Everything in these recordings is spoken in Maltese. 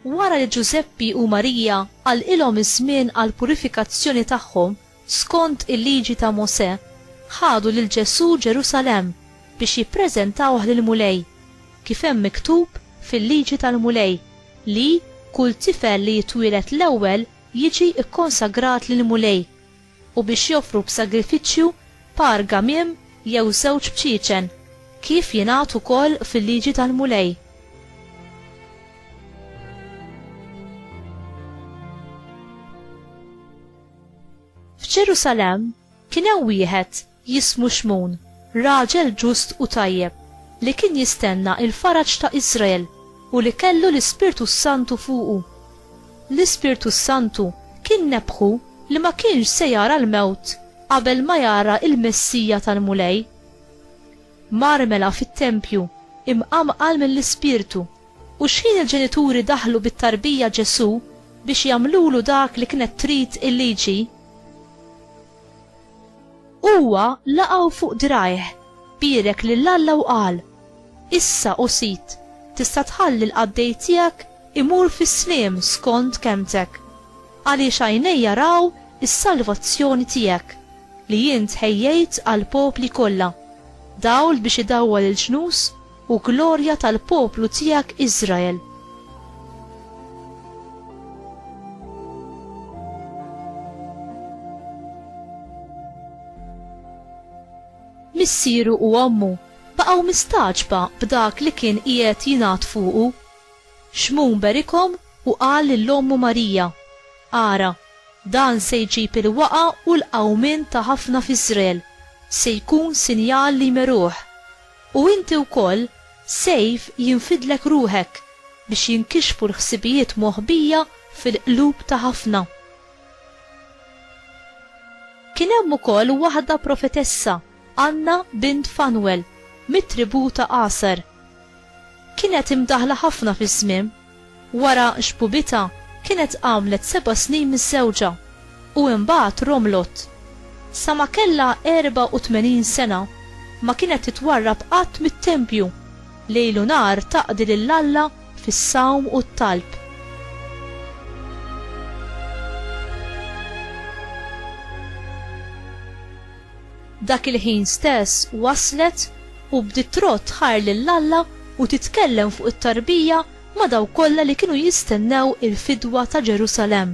Wara li Ġużeppi u Marija għalqilhom iż-żmien għall-purifikazzjoni tagħhom skont il-liġi ta' Mosè, ħadu lil Ġesù Ġerusalemm biex jippreżentawh lill-Mulej, kif hemm miktub fil-liġi tal-Mulej li kull tifel li jitwieled l-ewwel jiġi kkonsagrat lill-Mulej, u biex joffru b'sagrifiċċju par gamiem jew żewġ bċiecen, kif jingħad ukoll fil-liġi tal-Mulej. F'Ġerusalemm kien hemm wieħed jismu Xmun, raġel ġust u tajjeb, li kien jistenna il-faraġ ta' Iżrael u li kellu l-Ispirtu s-Santu fuqu. L-Ispirtu s-Santu kien nebbħu li ma kienx se jara l-mewt qabel ma jara l-Messija tal-Mulej. Mar mela fit-tempju, imqanqal mill-Ispirtu, u xħin il-ġenituri daħlu bit-tarbija Ġesù biex jagħmlulu dak li kienet trid il-liġi, Huwa laqgħu fuq drajh, bierek lil Alla u qal, Issa, o Sid, tista' tħalli l-qaddej tiegħek imur fis-sliem skond kelmtek, għaliex għajnejja raw is-salvazzjoni tiegħek, li int ħejjejt għall-popli kollha, dawl biex idawwal il-ġnus u glorja tal-poplu tiegħek Iżrael. Missieru u ommu baqgħu mistagħġba b'dak li kien qiegħed jingħad fuqu. Xmun berikhom u qal lil ommu Marija, Ara, dan se jġib il-waqgħa u l-qawmien ta' ħafna f'Iżrael, se jkun sinjal li jmeruh. U inti wkoll, sejf jinfidlek ruħek biex jinkixfu l-ħsibijiet moħbija fil-qlub ta' ħafna. Kien hemm ukoll waħda profetessa, Għanna bint Fanwel, mit-tribù ta' Aser. Kienet imdaħħla ħafna fiż-żmiem. Wara xbubitha kienet għamlet seba' snin miżżewġa, u imbagħad romlot. Sa ma kellha 84 sena, ma kienet titwarrab qatt mit-tempju, lejl u nhar taqdi lil Alla fis-sawm u t-talb. Dak il-ħin stess waslet u bdiet trodd tħajr lil Alla u titkellem fuq it-tarbija ma' dawk kollha li kienu jistennew il-fidwa ta' Ġerusalemm.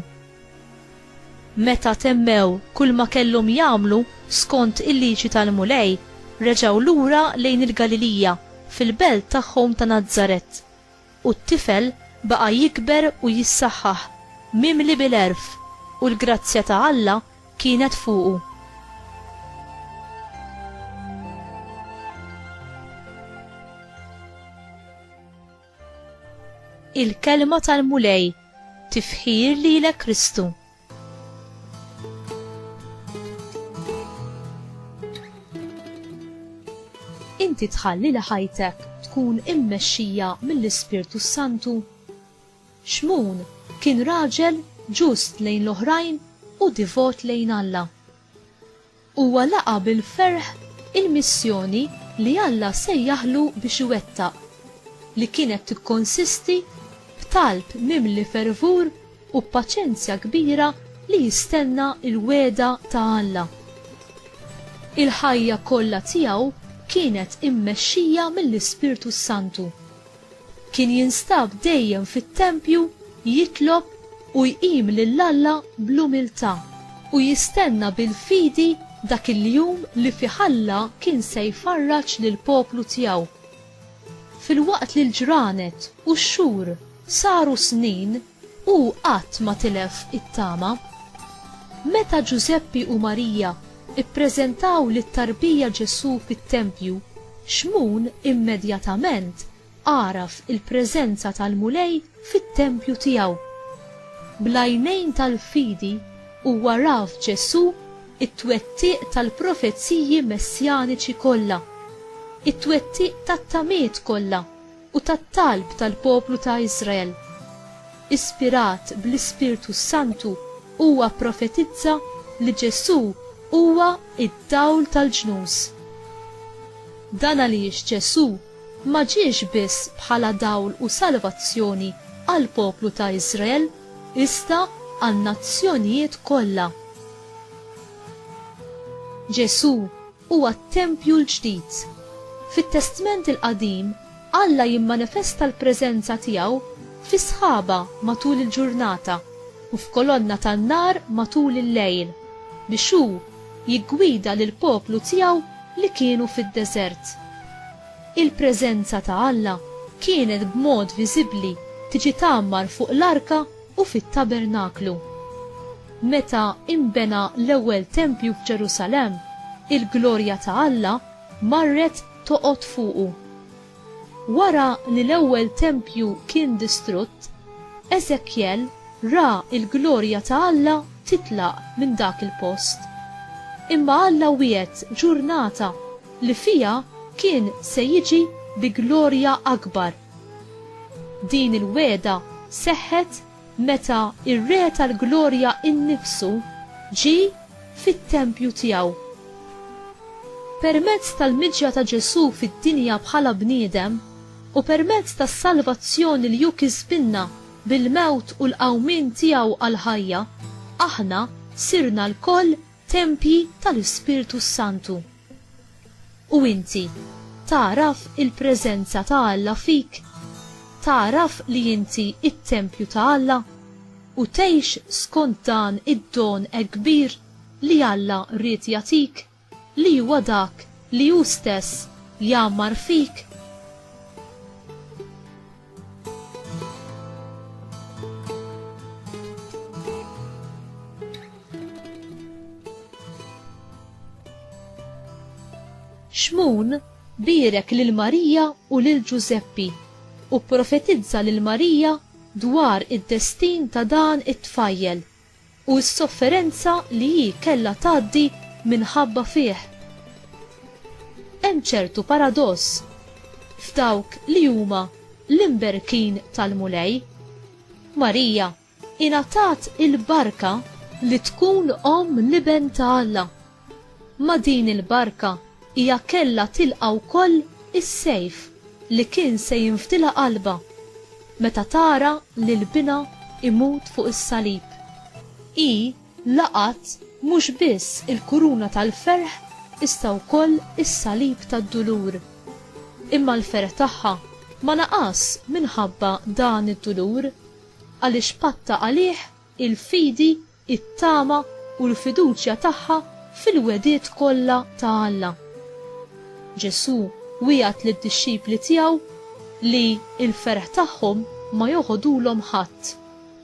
Meta temmew kulma kellhom jagħmlu skont il-liġi tal-Mulej, reġgħu lura lejn il-Galilija, fil-belt tagħhom ta' Nazaret. u t-tifel baqa' jikber u jissaħħaħ, mimli bil-għerf, u l-grazzja ta' Alla kienet fuqu. Il-Kelma tal-Mulej, Tifħir lilek Kristu! Inti tħalli li ħajtek tkun immexxija mill-Ispirtu s-Santu? Xmun kien raġel ġust lejn l-oħrajn u divot lejn Alla. Huwa laqa' bil-ferħ il-missjoni li Alla sejjaħlu biex iwettaq, li kienet tikkonsisti f'talb mimli fervur u b'paċenzja kbira li jistenna l-wegħda ta' Alla. Il-ħajja kollha tiegħu kienet immexxija mill-Ispirtu s-Santu. Kien jinstab dejjem fit-tempju jitlob u jqim lil Alla bl-umiltà u jistenna bil-fidi dak il-jum li fih Alla kien se jfarraġ lill-poplu tiegħu. Filwaqt li l-ġranet u x-xhur saru snin, Hu qatt ma tilef it-tama. Meta Ġużeppi u Marija ppreżentaw lit-tarbija Ġesù fit-tempju, Xmun immedjatament għaraf il-preżenza tal-Mulej fit-tempju tiegħu. Bl-għajnejn tal-fidi huwa ra f'Ġesù t-twettiq tal-profeziji messjaniċi kollha, it-twettiq tat-tamiet kollha. u tat-talb tal-poplu ta' Iżrael. Ispirat bl-Ispirtu s-Santu, huwa pprofetizza li Ġesù huwa d-dawl tal-ġnus. Dan għaliex Ġesù ma ġiex biss bħala dawl u salvazzjoni għall-poplu ta' Iżrael iżda għan-nazzjonijiet kollha. Ġesù huwa t-tempju l-ġdid. Fit-Testment il-Qadim, Alla jimmanifesta l-preżenza tiegħu fi sħaba matul il-ġurnata u f'kolonna tan-nar matul il-lejl, biex hu jiggwida lill-poplu tiegħu li kienu fid-deżert. Il-preżenza ta' Alla kienet b'mod viżibbli tiġi tgħammar fuq l-arka u fit-tabernaklu. Meta inbena l-ewwel tempju f'Ġerusalemm, il-glorja ta' Alla marret toqgħod fuqu. Wara li l-ewwel tempju kien distrutt, Eżekjel ra l-glorja ta' Alla titlaq minn dak il-post. Imma Alla wiegħed ġurnata li fiha kien se jiġi bi glorja akbar. Din il-wegħda seħħet meta r-Re tal-Glorja nnifsu ġie fit-tempju tiegħu. Permezz tal-miġja ta' Ġesù fid-dinja bħala bniedem u permezz tas-salvazzjoni li hu kisbilna bil-mewt u l-qawmien tiegħu għall-ħajja, aħna sirna lkoll tempji tal-Ispirtu s-Santu. U inti, tagħraf il-preżenza ta' Alla fik? Tagħraf li inti t-tempju ta' Alla? U tgħix skont dan id-don hekk kbir li Alla ried jagħtik, li huwa dak li hu stess jgħammar fik? Xmun birek lil Marija u lil Ġużeppi u pprofetizza lil Marija dwar id-destin ta' dan it-tfajjel u s-sofferenza li hi kellha tgħaddi minħabba fih. Hemm ċertu paradoss f'dawk li huma l-imberkin tal-Mulej. Marija ingħatat il-barka li tkun omm l-Iben ta' Alla. Ma' din il-barka hija kellha tilqa' wkoll is-sejf li kien se jinfdilha qalbha meta tara lil binha imut fuq is-salib. Hi laqgħet mhux biss il-kuruna tal-ferħ iżda wkoll is-salib tad-dulur. Imma l-ferħ tagħha ma naqas minħabba dan id-dulur, għaliex patta għalih il-fidi it-tama u l-fiduċja tagħha fil-wegħdiet kollha ta' Alla. Ġesù wiegħed lid-dixxipli tiegħu li l-ferħ tagħhom ma joħodulhom ħadd,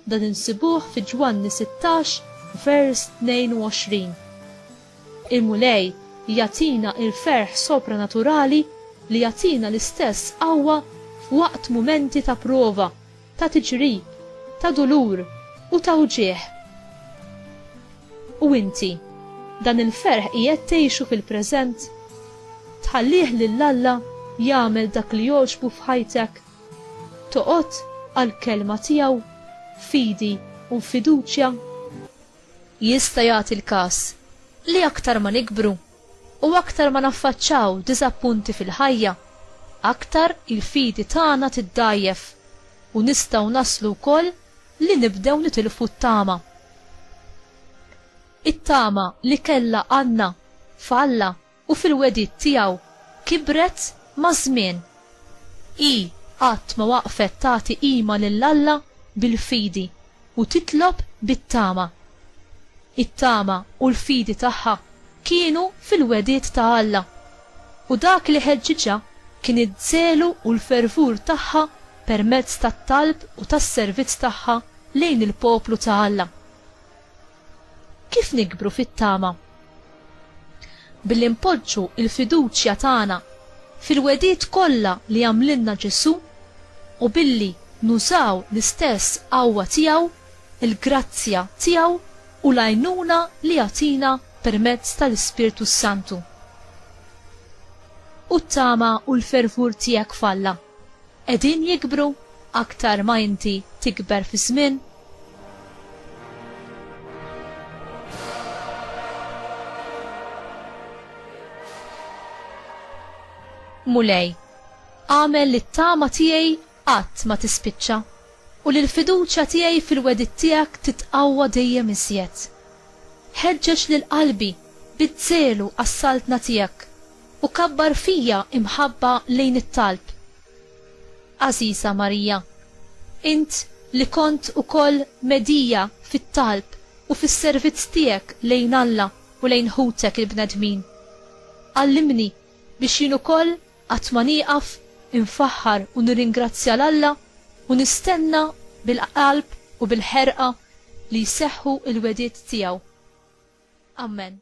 dan insibuh fi Ġwanni 16 vers 22. Il-Mulej jagħtina l-ferħ sopranaturali li jagħtina l-istess qawwa f'waqt mumenti ta' prova. ta' tiġrib, ta' dulur u ta' wġigħ. U inti, dan il-ferħ qiegħed tgħixu fil-preżent? Tħallih lil Alla jagħmel dak li jogħġbu f'ħajtek? Toqgħod għall-Kelma tiegħu f'fidi u f'fiduċja? Jista' jagħti l-każ li aktar ma nikbru, U aktar ma naffaċċaw diżappunti fil-ħajja, aktar il-fidi tagħna tiddgħajjef u nistgħu naslu wkoll li nibdew nitilfu t-tama. It-tama li kellha Anna f'Alla u fil-wegħdiet tiegħu kibret maż-żmien. Hi qatt ma waqfet tagħti qima lil Alla bil-fidi. u titlob bit-tama. It-tama u l-fidi tagħha kienu fil-wegħdiet ta' Alla, u dak li ħeġġiġha kien iż-żelu u l-fervur tagħha permezz tat-talb u tas-servizz tagħha lejn il-poplu ta' Alla. Kif nikbru fit-tama? Billi npoġġu l-fiduċja tagħna fil-wegħdiet kollha li għamlilna Ġesù u billi nużaw l-istess qawwa tiegħu, il-grazzja tiegħu u l-għajnuna li jagħtina permezz tal-Ispirtu s-Santu. U t-tama u l-fervur tiegħek f'Alla? qegħdin jikbru aktar ma inti tikber fiż-żmien? Mulej, agħmel li t-tama tiegħi qatt ma tispiċċa u li l-fiduċja tiegħi fil-wegħdiet tiegħek titqawwa dejjem iżjed. Ħeġġeġ lil qalbi bid-żelu għas-saltna tiegħek U kabbar fija imħabba lejn it-talb. Għażiża Marija, int li kont ukoll medhija fit-talb u fis-servizz tiegħek lejn Alla u lejn ħutek il-bnedmin, għallimni biex jien ukoll qatt ma nieqaf infaħħar u nirringrazzja 'l Alla u nistenna bil-qalb u bil-ħerqa li jseħħu l-wegħdiet tiegħu. Amen.